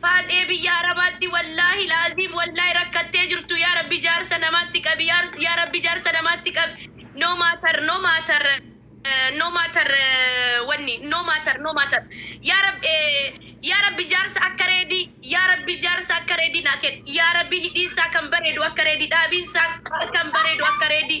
Faaxee biyya arabaatti wallaahi laaziim wallaahi rakkattee jirtu yaa rabbi jaarsa namaatti qabi yaa rabbi jaarsa namaatti qabi no matter no matter no matter wanni no matter no matter yaa rabbi yaa rabbi jaarsa akka reedii yaa rabbi jaarsa akka reedii naa kenni yaa rabbi hidhiinsaa kan bareedu akka reedii dhaabiinsaa kan bareedu akka reedii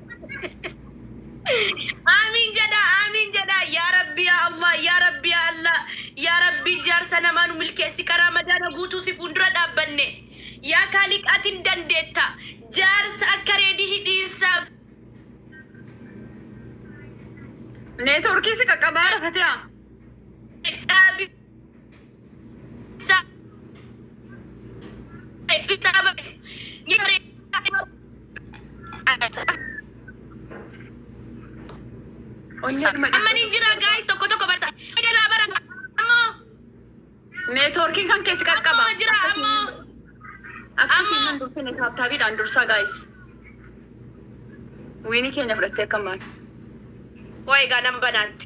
Aamiin jedhaa aamiin jedhaa yaa rabbi yaa allah yaa rabbi yaa allah yaa rabbi jaarsa namaa nu milkeessi ka raamadaana guutuu si fuundura dhaabbanne yaa kaaliq atin dandeetta jaarsa akka reedii hidhiinsaaf Neetworkii si qaqqabaa dha Fatiyaa. dhaabi Amma ni jira guys tokko tokko barsa. Egaa bara ammoo Neetwoorkiin kan keessi qaqqaba. ammoo jira ammoo. Akkasiin Amma- nan dursine taaptaabiidhaan dursaa gaayis. Wiinii keenya fudhattee akka maal? Wayi egaa nan banaatti.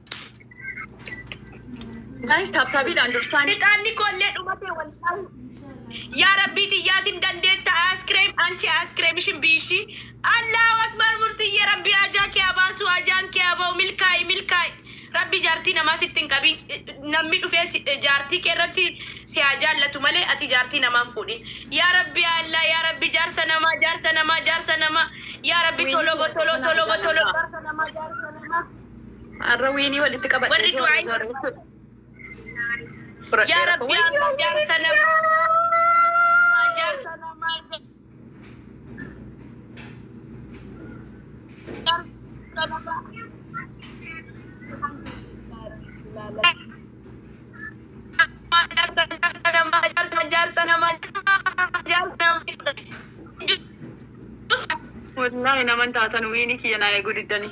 Guys, taaptaabiidhaan dursaan. Fixaanni koollee dhumatee walqaabu. Yaa Rabbii tiyyaatiin dandeetta aaskireem anchi aaskireem ishin biishi. Allahu akbar murtiyyee Rabbii ajaa kee haa baasu ajaan kee haa ba'u milkaa'i milkaa'i. Rabbii jaartii namaa sitti hin qabin namni dhufee si- jaartii kee irratti si haa jaallatu malee ati jaartii namaa hin fuudhin. Yaa Rabbii Allah yaa Rabbii jaarsa namaa jaarsa namaa jaarsa namaa yaa Rabbii tolobo tolo tolobo tolo jaarsa namaa jaarsa namaa. Har'a wiinii walitti qabadhe. Warri du'aa hin Yaa Rabbi amma jaarsa namaa jaarsa namaa jaarsa namaa. Wallahi naman taatan wiini kiyya naa eeguu diddanii.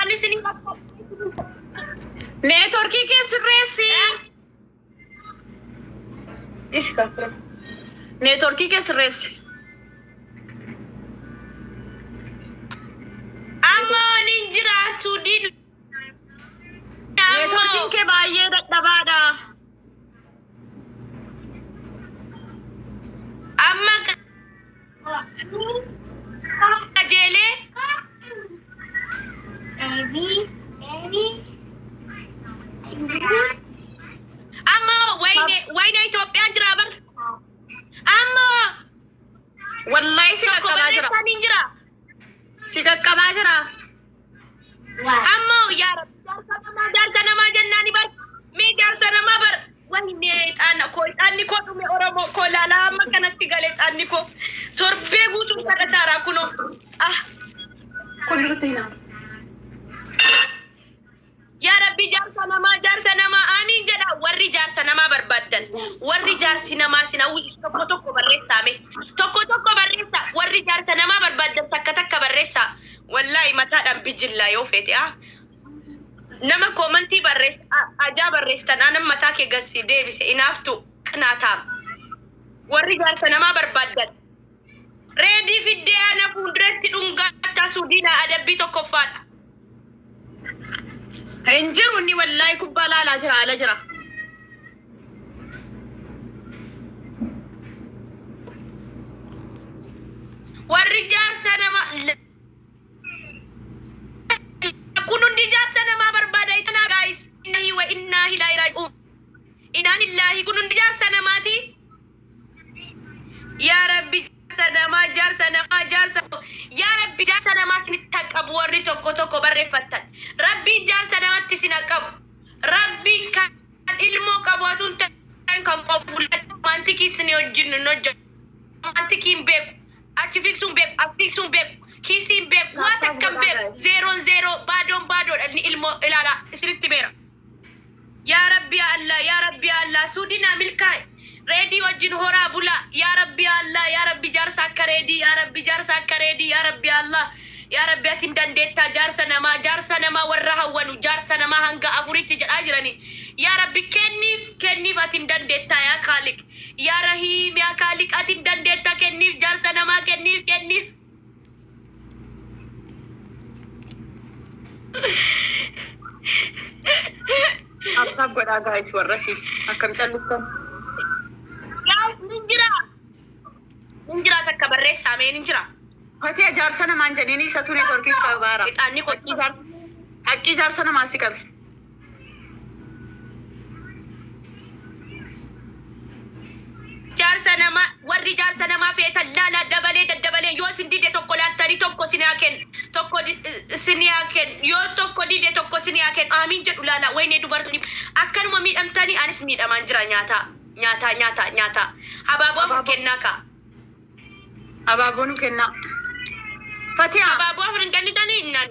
Ani isin Neetworkii kee sirreessi. Isi kaafira. Neetworkii kee sirreessi. Amma waliin jira Suudiin. Neetworkiin kee baay'ee dadhabaadha. Amma qajeelee amma wayne wayne Itoophiyaan jira bar amma Wallahi si tokko qaqqabaa jira. barreessaan hin jira Si qaqqabaa jira. Ammoo yaa rabbi jaarsa namaa jaarsa namaa jennaani bar mee jaarsa namaa bar wayne xaana koo xaanni koo dhume oromoo koo laalaa amma kanatti galee xaanni koo torbee guutuu kadhataaraa kunoo ah Kun irratti hin hafu. Yaa Rabbi jaarsa namaa jaarsa namaa aamiin jedha warri jaarsa namaa barbaaddan warri jaarsi namaa sin hawwisis tokko tokko barreessaa mee tokko tokko barreessa warri jaarsa namaa barbaaddan takka takka barreessaa wallaahi mataadhaan bijillaa yoo feete ah nama koomantii barrees a- ajaa barreessitan anan mataa kee gassi deebise inaaftu qinaataa warri jaarsa namaa barbaaddan Reedii fiddee ana fuulduratti dhungaattaa suudiina adabbii tokkoffaadha. Hin jiru inni wallaahi kubbaa laalaa jira ala jira. Warri jaarsa nama kun hundi jaarsa namaa barbaada itanaa gaayis inna hiwa innaa hilaa iraaji'uun. Inaan illaahi kun hundi jaarsa namaati. Yaa Rabbi jaarsa namaa jaarsa namaa jaarsa yaa Rabbi jaarsa namaa isinitti haa qabu warri tokko tokko barreeffattan. Rabbiin jaarsa namatti isin haa qabu. Rabbi kan ilmoo qabu atuu hin ta'in kan qofu romantikii isin wajjin hin hojjetu. Romantikii hin beeku. Achi fiigsuu hin beeku. As fiigsuu hin beeku. Kiisii hin beeku. Waa takka hin beeku. Zeeroon zeeroo baadoon baadoodha inni ilmoo ilaalaa isinitti meera. Yaa rabbi yaa Allah yaa rabbi yaa Allah suudi naa milkaa'i reedii wajjin horaa bulaa yaa rabbi yaa Allah yaa rabbi jaarsa akka reedii yaa rabbi jaarsa akka reedii yaa rabbi yaa Allah yaa rabbi ati hin dandeettaa jaarsa namaa jaarsa namaa warra hawwanu jaarsa namaa hanga afuritti jedhaa jirani yaa rabbi kenniif kenniif ati hin dandeettaa yaa kaaliq yaa rahiim yaa kaaliq ati hin dandeettaa kenniif jaarsa namaa kenniif kenniif Akkaaf godhaa gaa'is warrasi akkam calliftan. Gaa'is ni jira. Ni jira takka barreessaa mee ni jira. Fatee jaarsa namaan jedhini isa ture torkiis qabaara. Ixaanni qotii jaarsa. Haqqii jaarsa namaa si qabe. Jaarsa namaa warri jaarsa namaa feetan laalaa dabalee daddabalee yoo isin dide tokko laaltanii tokko isin haa kennu tokko isin haa kennu yoo tokko dide tokko isin haa kennu aamiin jedhu laalaa waynee dubartoonni akkanuma miidhamtanii anis miidhamaan jira nyaataa nyaataa nyaataa nyaataa habaaboo afur kennaa kaa Abaaboo nu kennaa. Fatiyaa. habaaboo afur hin kennitanii naan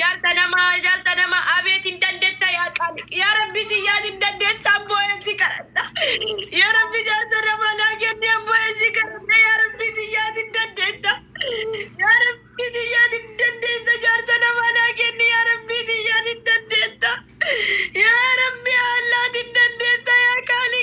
Jaarsa nama jaarsa nama abeet hin dandetta yaa qaali yaa rabbi tiyyaa hin dandeessa abbooyeen si kadhadha yaa rabbi jaarsa nama naa kenni abbooyeen si kadhadha yaa rabbi tiyyaa hin dandeetta yaa rabbi tiyyaa hin dandeessa jaarsa nama naa kenni yaa rabbi tiyyaa hin dandeetta yaa rabbi haallaa hin dandeessa yaa qaali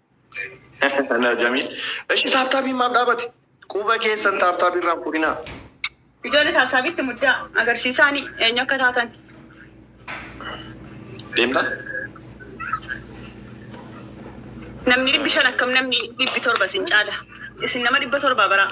Anaa jamii. Eshi taaptaabiin maaf dhaabate? Quba keessan taaptaabii irraa hin fuudhinaa. Ijoollee taaptaabiitti muddaa agarsiisaanii eenyu akka taatan. Deemtaa? Namni dhibbi shan akkam namni dhibbi torba isin caala. Isin nama dhibba torbaa baraa.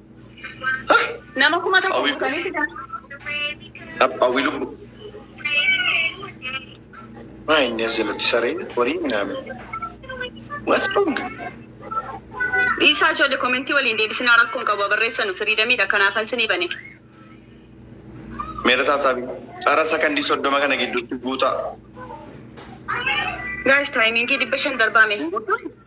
Nama kuma tokko Awwi- butanii sitan. Ab- Hawwii lubbu. Maa inni as jalatti saree horii minaamin. What's wrong? Dhiisaa ijoollee komentii waliin deebisinaa rakkoon qabu barreessanu firiidamiidha kanaafan sinii bane. Meera taataabii. Xara sakandii soddoma kana gidduutti guutaa. Gaayis taayimiingii dhibba shan darbaame.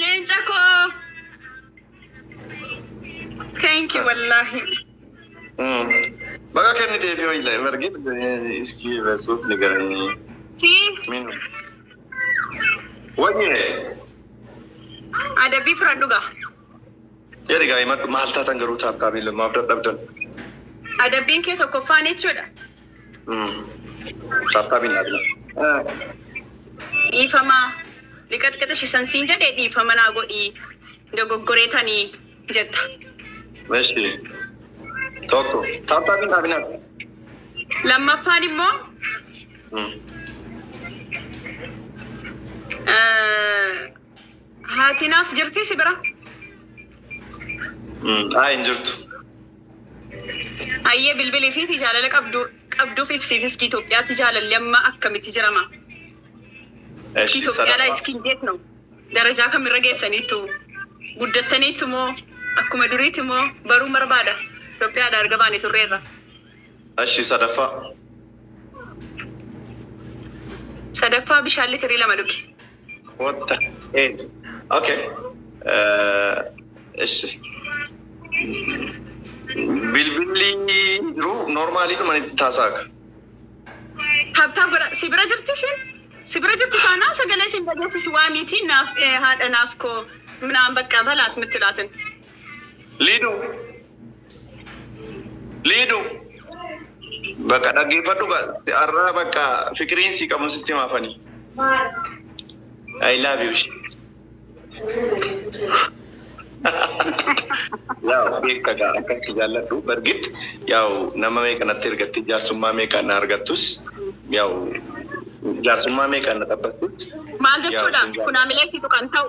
Leenca koo. Thank you wallaahi. Mm. Baga kennitee fi wayila bargit iskii rasuuf ni garanii. Si Min. Wayye. adabii fudhadhu gaa. Jedhi gaa himadhu maal taatan garuu taaptaabii lamaaf dadhabdan. Adabbiin kee tokkoffaan jechuudha. Saaftaa binnaa binnaa. Dhiifama liqaxqaxishi san siin jedhe dhiifama naa godhi dogoggoree tani jetta. Meshi. Tokko. Saaftaa binnaa binnaa. Lammaffaan immoo eh, haati naaf jirti si bira. Haa hin jirtu. Ayyee bilbili fi jaalala qabdu qabduuf ibsiif iski Itoophiyaatti jaalalli amma akkamitti jirama? Iski Eshi Itoophiyaa laa sadaffaa iski hin beeknu darajaa kamirra geessaniittu guddattaniittu moo akkuma duriiti moo baruun barbaada Itoophiyaadha erga baane turreerra eshi sadaffaa sadaffaa bishaan litirii lama dhugi. What the heck? Okay. Ishi. Bilbilli jiru noormaalii dhuma itti taasaaka. Tabtaa godha. Si bira jirti isin? Si bira jirti taanaan sagalee isin dhageessisu waa miti naaf haadha naaf koo minaan bakka balaat mitti laatin. Liiduu. Liidu bakka dhaggeeffadhu ka har'aa bakka fikiriin si qabu sitti maafani. I love you. Yaa'u beekta gaa akka itti jaalladhu bargit yaa'u nama meeqa natti ergattee jaarsummaa meeqaan na argattus yaa'u jaarsummaa meeqaan na xabbattus Maal yaa'u jechuudha? sin jaalladha. Kunaamilee siitu kan ta'u.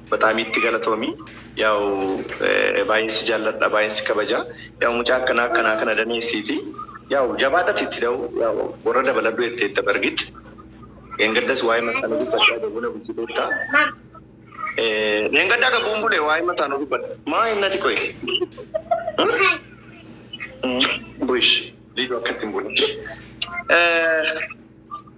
Bataam itti galatoomi yaa'u baay'een si jaalladha baay'een si kabaja yaa'u mucaa akkanaa akkanaa kana daneessiiti yaa'u jabaadhati itti da'u yaa'u warra dabaladhu jetteetta bargit dheengaddas waa'ee mataan dubbadhaa gabuu na bulchiteetta dheengaddaa gabuun bule waa'ee mataan dubbadha maa hinnati qoy buish liidoo akkatti hin bule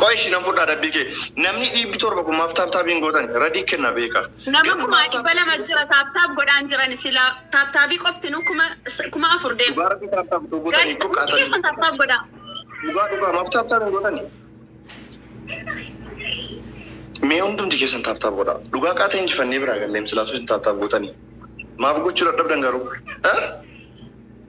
Qoy ishi nan fudhaa dabbii kee. Namni dhiibbi torba kun maaf taap taap hin gootani radii kenna beeka. Nama kumaa dhibba lama jira taap taap godhaan jirani silaa taap taabii qoftinu kuma kuma afur deema. Dhugaa rabbii taap taap otoo gootani guys hundi keessan taap taap godhaa. Dhugaa dhugaa maaf taap taap hin gootani. Mee hundumti keessan taap taap godhaa. Dhugaa qaata injifannee biraa galleem silaa osoo isin taap taap gootani. Maaf gochuu dadhabdan garuu?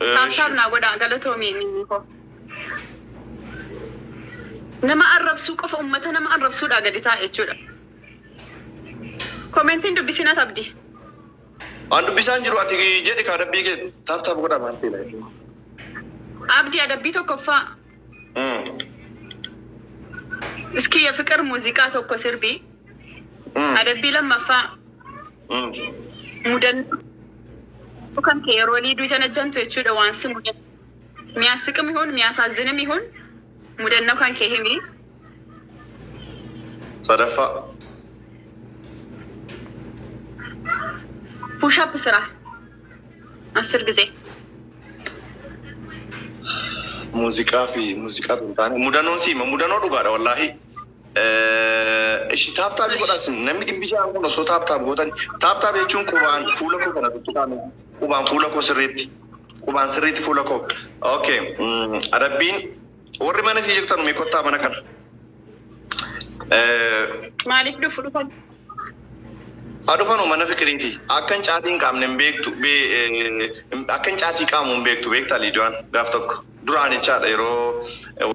Taap taap naa godhaa galatoomi mimmii koo. Nama arrabsuu qofa ummata nama arrabsuudhaa gadi taa'a jechuudha. Komentiin dubbisiin at abdi. An dubbisaan jiru ati jedhi kaa dabbii kee taap taap godhaa maal ta'e. Abdi adabbii tokkoffaa. Iskii ya fiqir muuziqaa tokko sirbii. Adabbii lammaffaa mudannoo kan kee yeroo liiduu janajjantu jechuudha waan si mudatu. Miyaasiqim ihuun miyaasaazzinim ihuun mudannoo kan kee himi. Sadaffaa. Push up sira. አስር ጊዜ muuziqaa fi muuziqaa hin taane mudanoo siima mudanoo dhugaadha wallaahi ishi taaptaabii godhaas namni dhibbi ja'an kun osoo taaptaab gootan taaptaab jechuun qubaan fuula koo kana tuttuqaame qubaan fuula koo sirriitti qubaan sirriitti fuula koo okay mm, adabbiin Warri mana sii jirtan mee kottaa mana kana. Maaliif dhufu dhufan? Adufanu mana fikiriiti. Akkan caatii hin qaamne hin beektu. Akkan caatii qaamu hin beektu beektaa Liidiyaan gaaf tokko. Duraan jechaadha yeroo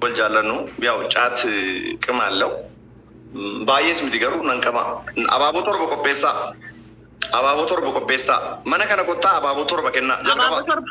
wal jaallannu yaa'u caat qimaallau. Baay'ees miti garuu nan qaba. Abaaboo torba qopheessaa. Abaaboo torba qopheessaa. Mana kana kottaa abaaboo torba kennaa. Jalqaba. Abaaboo torba.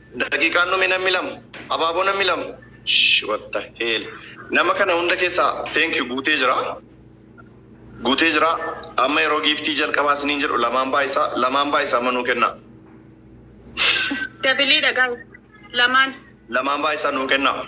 Daqiiqaan dhume nammi lama abaaboo nammi lama shh what the hell nama kana hunda keessaa thank you guutee jira guutee jira amma yeroo giiftii jalqabaa isiniin jedhu lamaan baay'isaa lamaan baay'isaa manuu kennaa Dabiliidha guys. Lamaan. lamaan baay'isaa nuu kennaa.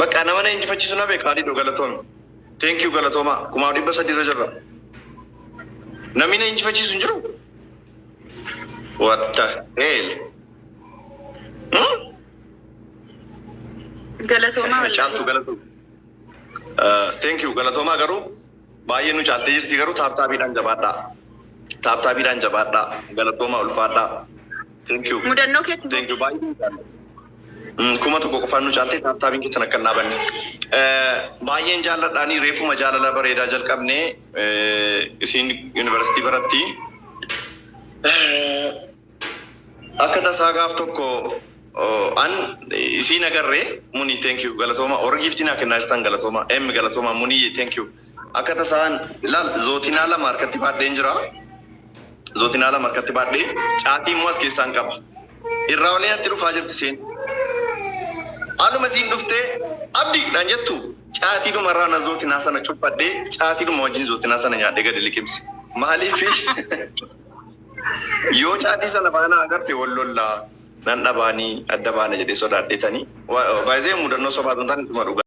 Bakka nama na injifachiisu na beeka Aliidoo galatoomi. Thank you galatoomaa kumaa dhibba sadii irra jirra. Namni na injifachiisu hin jiru. What the hell? Hmm? Galatoomaa wallaahi. Caaltuu galatoomi. Uh, Thank you galatoomaa garuu baay'ee nu caaltee jirti garuu taaptaabiidhaan jabaadhaa. Taaptaabiidhaan jabaadhaa. Galatoomaa ulfaadhaa. Thank you. Mudannoo keetti Thank you. Baay'ee jaalladha. Mm, Kuma tokko qofaan nu caaltee taataabiin keessan akka hin dhaabanne. Eh, Baay'een jaalladhaanii reefuma jaalala bareedaa jalqabne eh, isiin yuunivarsiitii baratti. Eh, Akka tasaa gaaf tokko oh, an isiin agarre muni thank you galatooma warra giiftii naa kennaa jirtan galatooma em galatooma muni thank you akka tasaan laal zootinaa lama harkatti baadheen jira. Zotinaa lama harkatti baadhee caatii immoo as keessaan qaba. Irraa olii natti dhufaa jirti seen. Aluma isiin dhuftee abdi naan jettu caatii dhuma irraa na zootinaa sana cuphadhee caatii dhuma wajjin zootinaa sana nyaadhee gadi liqimse. Maaliif yoo caatii sana baanaa agarte wal lollaa nan dhabaanii adda baana jedhee sodaadheetanii. Baay'ee mudannoo sobaa tuntaan dhuma dhugaa.